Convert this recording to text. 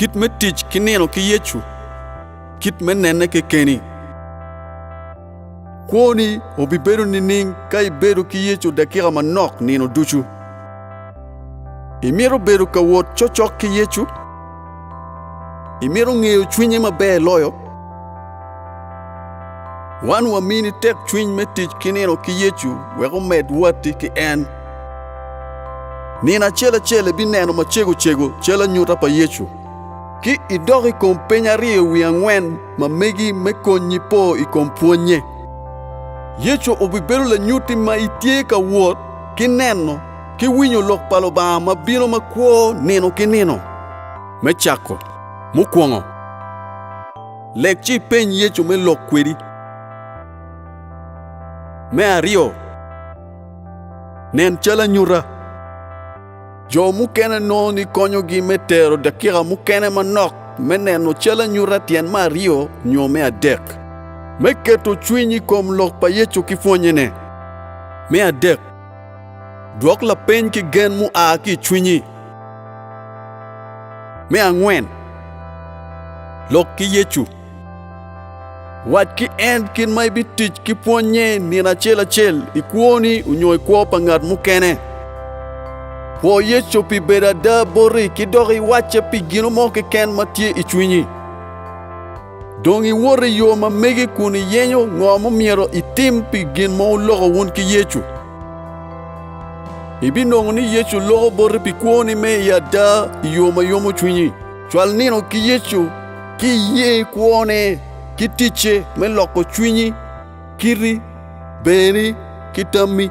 Kit me tic ki nino ki Yecu. Kit me nene kekeni. Kwoni obibedo nining ka ibedo ki Yecu dakika manok nino ducu? Imito bedo ka wot cokcok ki Yecu? Imito ngeyo cwinye maber loyo? Wan wamini tekcwiny me tic ki nino ki Yecu wek omed watti ki en. Nino acel acel ibineno macego cego cal anyuta pa Yecu, ci idok i kom peny aryo wi angwen ma megi me konyi po i kom pwonnye. Yecu obibedo lanyutti ma itye ka wot ki neno ki winyo Lok pa Lubanga ma bino ma kwo nino ki nino. Me cako, mukwongo. Lek ci ipeny Yecu me lok kwedi. Me aryo, nen cal anyuta. Jo mukene nongo ni konyogi me tero dakika mukene manok me neno cal anyuta tyen me aryo nyo me adek. Me keto cwiny i kom lok pa Yecu ki pwonnyene. Me adek. Dwok lapeny ki gen mua ki i cwinyi. Me angwen, lok ki Yecu. Wac ki en kit ma ibitic ki pwonnye nino acel acel i kwoni onyo i kwo pa ngat mukene. Pwo Yecu pi bedo ada boti ki dok iwacce pi gino mo keken ma tye i cwinyi. Dong iwot i yo ma megi kun iyenyo ngo mumyero itim pi gin ma wuloko wun ki Yecu. Ibinongo ni Yecu loko boti pi kwoni me i ada i yo ma yomo cwinyi. Cwal nino ki Yecu ci iye kwone ki ticce me loko cwinyi, kiti, berni ki tammi.